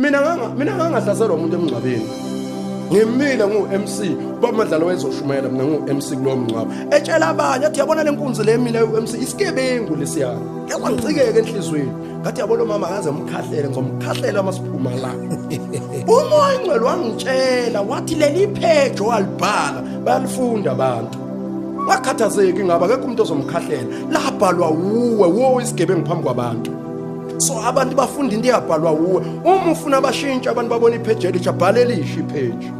mina nganga mina ngangahlaselwa umuntu emngcwabeni ngimile ngu-MC uba madlalo wayezoshumayela mina ngu-MC kulowo mngcwabo etshela abanye athi yabona le nkunzi le mina u-MC isigebengu lesiyana yakwangicikeke enhliziyweni ngathi yabona umama akaze mkhahlele ngizomkhahlela uma siphuma la umoya ingcwele wangitshela wathi leli phejo walibhala bayalifunda abantu wakhathazeki ngaba akekho umuntu ozomkhahlela labhalwa wuwe wo isigebengu phambi kwabantu so abantu bafunda into eyabhalwa wuwe uma ufuna abashintsha abantu babona ipheji elisha bhala elisha ipheji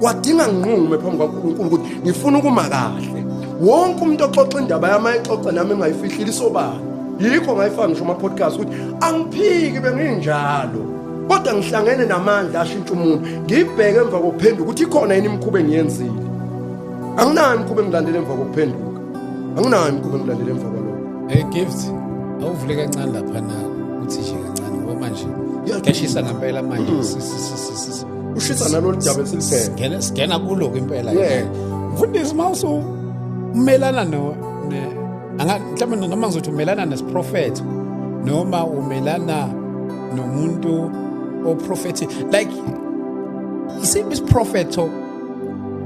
wadinga nginqume phambi kwankulunkulu ukuthi ngifuna ukuma kahle wonke umuntu oxoxa indaba yami ayixoxe nami engayifihlile isobala yikho ngayifaka ngisho ama-podcast ukuthi angiphiki benginjalo kodwa ngihlangene namandla ashintsha umuntu ngibheke emva kokuphenduka ukuthi ikhona yini imikhuba engiyenzile anginayo imikhuba engilandele emva kokuphenduka anginayo imikhuba ngilalele emva kwalokho hey gift awuvule kancane lapha na uthi nje kancane ngoba manje kashisa ngempela manje mm. ushisa nalolu daba esiliphethe singena kulo ke impela mfundisi uma usumelana no mhlawumbe noma ngizothi umelana nesiprofetho noma umelana nomuntu oprofethi like isiphi isiprofetho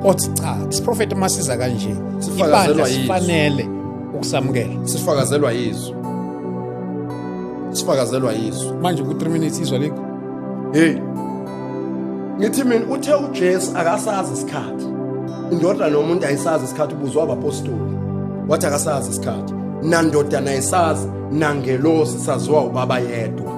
othi cha isiprofethi masiza kanje ibandla sifanele ukusamukela sifakazelwa yizwi sifakazelwa yizwi manje ku 3 minutes izwa lekho hey ngithi mina uthe uJesu akasazi isikhathi indoda nomuntu ayisazi isikhathi ubuzwa abapostoli wathi akasazi isikhathi nandoda nayisazi nangelosi saziwa ubaba yedwa